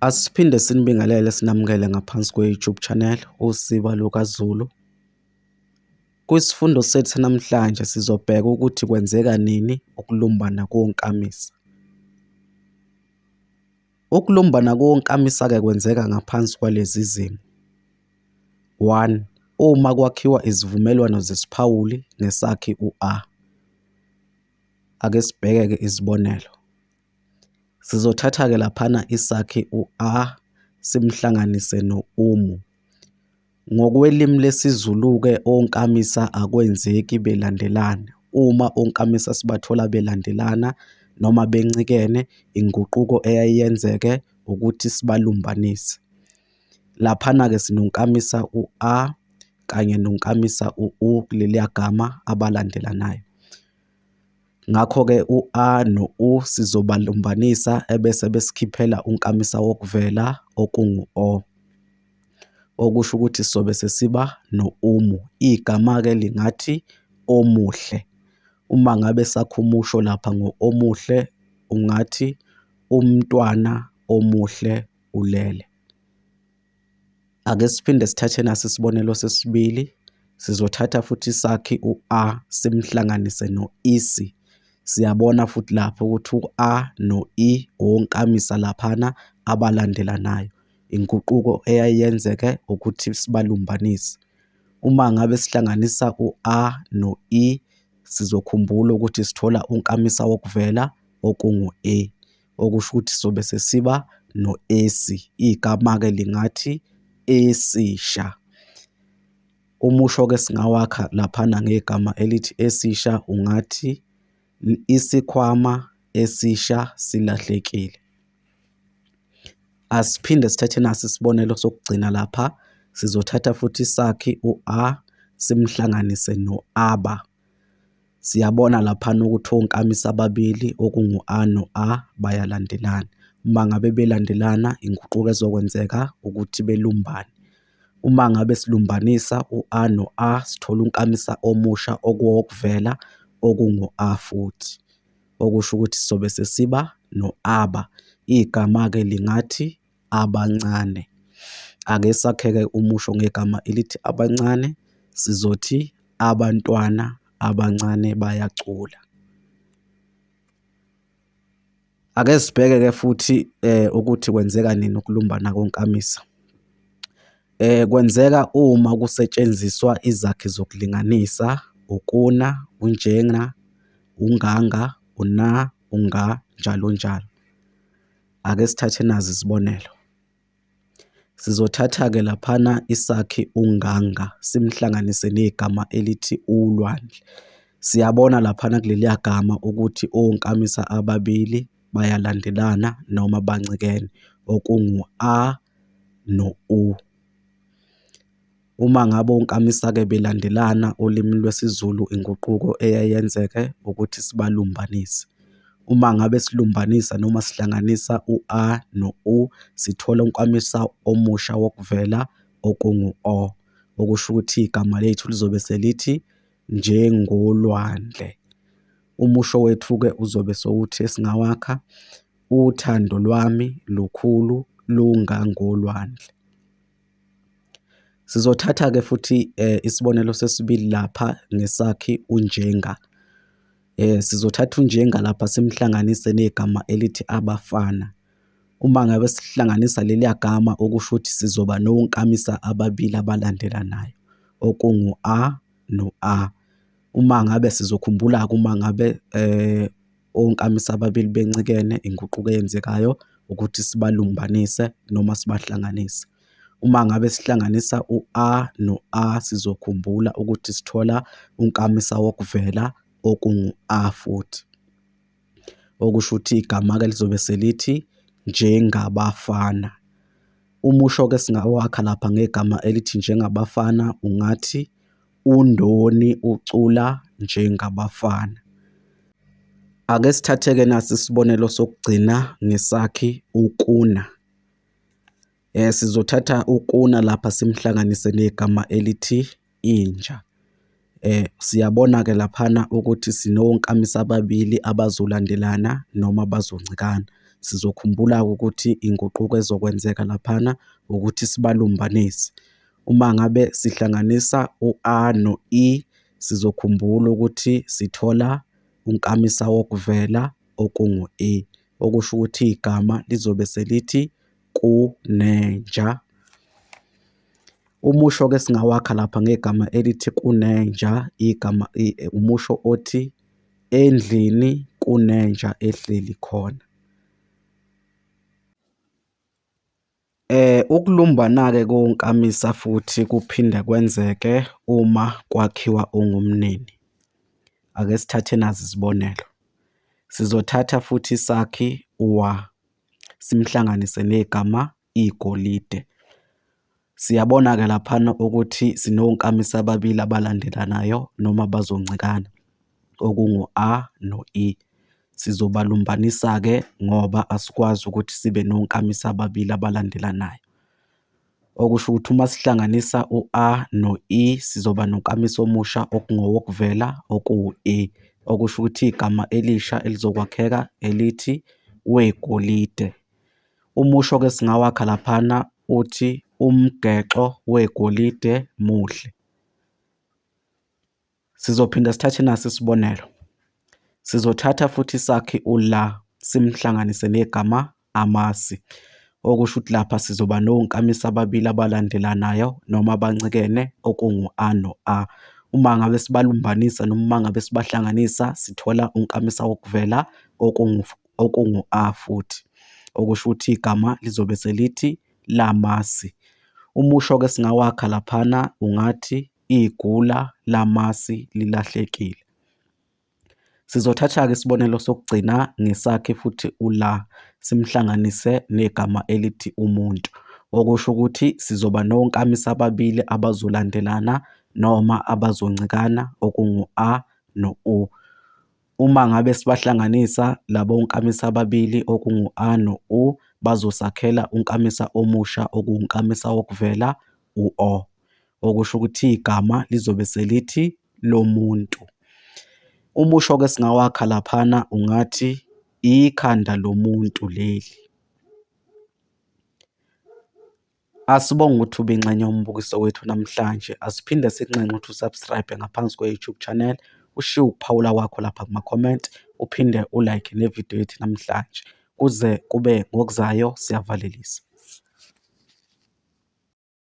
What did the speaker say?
Asiphinde sinibingelele sinamukele ngaphansi kwe-YouTube channel Usiba LukaZulu. Kwisifundo sethu namhlanje sizobheka ukuthi kwenzeka nini ukulumbana konkamisa. Ukulumbana konkamisa-ke kwenzeka ngaphansi kwalezi zimo. One, uma kwakhiwa izivumelwano zesiphawuli ngesakhi u-A. Ake sibheke-ke izibonelo. Sizothatha-ke laphana isakhi u-a simhlanganise no-umu. Ngokwelimi lesiZulu-ke onkamisa akwenzeki belandelana. Uma onkamisa sibathola belandelana noma bencikene, inguquko eyaye yenzeke ukuthi sibalumbanise. Laphana-ke sinonkamisa u-a kanye nonkamisa u-u kuleliya gama abalandelanayo. Ngakho-ke u-A no-U sizobalumbanisa ebese besikhiphela unkamisa wokuvela okungu-O, okusho ukuthi sizobe sesiba no-umu. Igama-ke lingathi omuhle. Uma ngabe sakha umusho lapha ngo-omuhle, ungathi umntwana omuhle ulele. Ake siphinde sithathe nasi isibonelo sesibili. Sizothatha futhi isakhi u-a simhlanganise no-isi. Siyabona futhi lapho ukuthi u-a no-i wonkamisa laphana abalandelanayo. Inguquko eyayiyenzeke ukuthi sibalumbanise. Uma ngabe sihlanganisa u-a no-i sizokhumbula ukuthi sithola unkamisa wokuvela okungu-e. okusho ukuthi sobe sesiba no-esi. Igama-ke lingathi esisha. Umusho-ke singawakha laphana ngegama elithi esisha ungathi isikhwama esisha silahlekile. Asiphinde sithathe nasi isibonelo sokugcina lapha. Sizothatha futhi isakhi u-a simhlanganise no-aba. Siyabona laphana ukuthi onkamisa ababili okungu-A no-A bayalandelana. Uma ngabe belandelana inguquko ezokwenzeka ukuthi belumbane. Uma ngabe silumbanisa u-A no-A sithola unkamisa omusha okuwowokuvela okungu-A futhi. Okusho ukuthi sobe sesiba no-aba. Igama-ke lingathi. abancane. Ake sakheke umusho ngegama elithi abancane, sizothi abantwana abancane bayacula. Ake sibheke-ke futhi ukuthi kwenzeka nini ukulumbana konkamisa. Kwenzeka uma kusetshenziswa izakhi zokulinganisa, ukuna, unjena, unganga, una, unga, njalo njalo. Ake sithathe nazi isibonelo. Sizothatha-ke laphana isakhi uNganga simhlanganise negama elithi uLwandle. Siyabona laphana kuleliya gama ukuthi onkamisa ababili bayalandelana noma bancikene, okungu-a no-u. Uma ngabe onkamisa-ke belandelana olimini lwesiZulu inguquko eye yenzeke ukuthi sibalumbanise. Uma ngabe silumbanisa noma sihlanganisa u-a no-u sithola unkamisa omusha wokuvela okungu-o, okusho ukuthi igama lethu lizobe selithi njengolwandle. Umusho wethu-ke uzobe sewuthi esingawakha, uthando lwami lukhulu lungangolwandle. Sizothatha-ke futhi isibonelo sesibili lapha ngesakhi uNjenga. Sizothatha uNjenga lapha simhlanganise negama elithi abafana. Uma ngabe sihlanganisa leliya gama okusho ukuthi sizoba nonkamisa ababili abalandelanayo okungu a no a. Uma ngabe sizokhumbula-ke uma ngabe . onkamisa ababili bencikene inguquko eyenzekayo ukuthi sibalumbanise noma sibahlanganise. Uma ngabe sihlanganisa u-a no-a sizokhumbula ukuthi sithola unkamisa wokuvela okungu-a futhi, okusho ukuthi igama-ke lizobe selithi njengabafana. Umusho-ke esingawakha lapha ngegama elithi njengabafana ungathi, UNdoni ucula njengabafana. Ake sithathe-ke nasi isibonelo sokugcina ngesakhi uKuna. Sizothatha uKuna lapha simhlanganise negama elithi inja. Siyabona-ke laphana ukuthi sinonkamisa ababili abazolandelana noma abazoncikana. Sizokhumbula-ke ukuthi inguquko ezokwenzeka laphana ukuthi sibalumbanise. Uma ngabe sihlanganisa u-a no-i, sizokhumbula ukuthi sithola unkamisawokuvela okungu-i, okusho ukuthi igama lizobe selithi kunenja. Umusho-ke esingawakha lapha ngegama elithi kunenja, igama umusho othi, endlini kunenja ehleli khona. Ukulumbana-ke konkamisa futhi kuphinde kwenzeke uma kwakhiwa ungumnini. Ake sithathe nazi izibonelo. Sizothatha futhi isakhi wa, simhlanganise negama igolide. Siyabona-ke laphana ukuthi sinonkamisa ababili abalandelanayo noma bazoncikana. okungu-A no-E. Sizobalumbanisa-ke ngoba asikwazi ukuthi sibe nonkamisa ababili abalandelanayo. Okusho ukuthi uma sihlanganisa u-A no-E sizoba nonkamisa omusha okungowokuvela okuwu-E, okusho ukuthi igama elisha elizokwakheka elithi wegolide. Umusho-ke esingawakha laphana uthi umgexo wegolide muhle. Sizophinda sithathe nasi isibonelo. Sizothatha futhi isakhi u-la simhlanganise negama amasi, okusho ukuthi lapha sizoba nonkamisa ababili abalandelanayo noma abancikene okungu-a no-a. Uma ngabe sibalumbanisa noma uma ngabe sibahlanganisa sithola unkamisa wokuvela okungu-a futhi, okusho ukuthi igama lizobe selithi lamasi. Umusho-ke esingawakha laphana ungathi. igula lamasi lilahlekile. Sizothatha-ke isibonelo sokugcina ngesakhe futhi uLa simhlanganise negama elithi umuntu, okusho ukuthi sizoba nonkamisa ababili abazolandelana noma abazoncikana okungu-a no-u. Uma ngabe sibahlanganisa labo nkamisa ababili okungu a no u bazosakhela unkamisa omusha okuwunkamisa wokuvela, u o, okusho ukuthi igama lizobe selithi lomuntu. Umusho ke singawakha laphana ungathi ikhanda lomuntu leli. Asibonge ukuthi ube ingxenye yombukiso wethu namhlanje. Asiphinde sikunxenxe ukuthi u-subscribe ngaphansi kwe-YouTube channel, ushiye ukuphawula kwakho lapha kuma-comment, uphinde u-like ne-video yethu namhlanje. Kuze kube ngokuzayo, siyavalelisa.